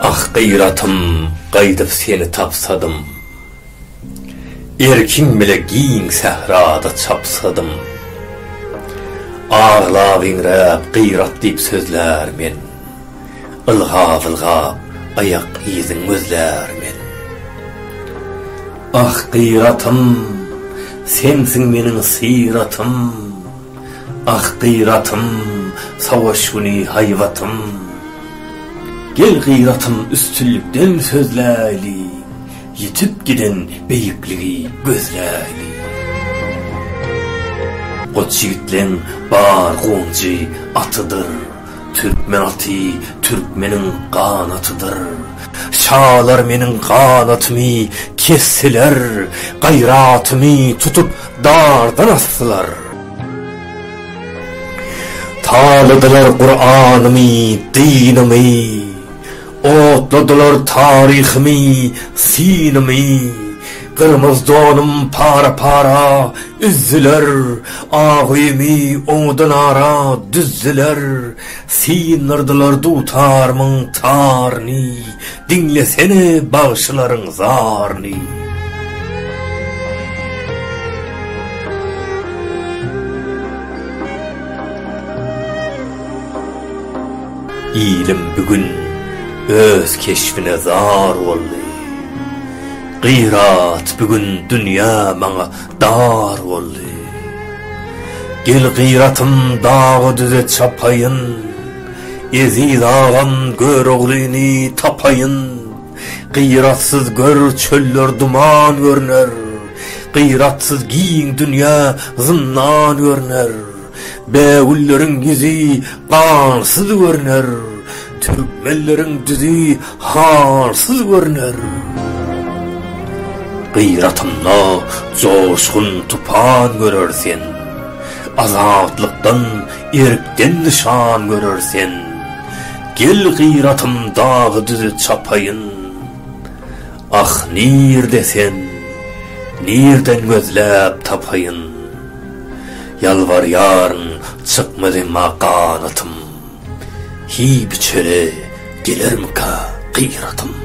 Ah gyratym gaýdyp seni tapsadym, Erkiň bile giň sährada çapsadym. Aglap-iňräp gyrat diýip sözlär men. Ylgap-ylgap aýak yzyň gözlärmen. Ah, Gyratym, sensiň meniň syratym, Ah, Gyratym, savaş güni haýbatym. Gel Gyratym üstünlikden sözläýli, Ýitip giden beýikligi gözläýli. Goç ýigitleň bar gonjy atydyr, Türkmen aty türkmeniň ganatydyr. Şalar meniň ganatymy kesdiler, gaýratymy tutup dardan asdylar. Taladylar Kuranymy, dynymy. Otladylar taryhymy, synymy, Gyrmyz donum para-para üzdüler, Ak öýümi oňadan ara düzdüler, Syndyrdylar dutarymyň taryny, Diňlesene bagşylaryň zaryny. Ilim bu gün öz keşbine zar boldy. Gyrat bu gün dünýä maňa dar boldy. Gel gyratym daga-düze çapaýyn, Eziz agam Göroglyny tapaýyn. Gyratsyz gör çöller duman görner, Gyratsyz giň dünýä zyndan görner. Bägülleriň ýüzi gansyz görner, türkmenleriň düzi halsyz görner. Gyratynda joşgun tupan görer sen, azatlykdan, erkden nyşan görer sen. Gel gyratym dagy-düzi çapaýyn, ah nirde sen, nirden gözläp tapaýyn. Ýalbarýaryn, çykmaz emma ganatym. Hiý biçere, gelermikä gyratym.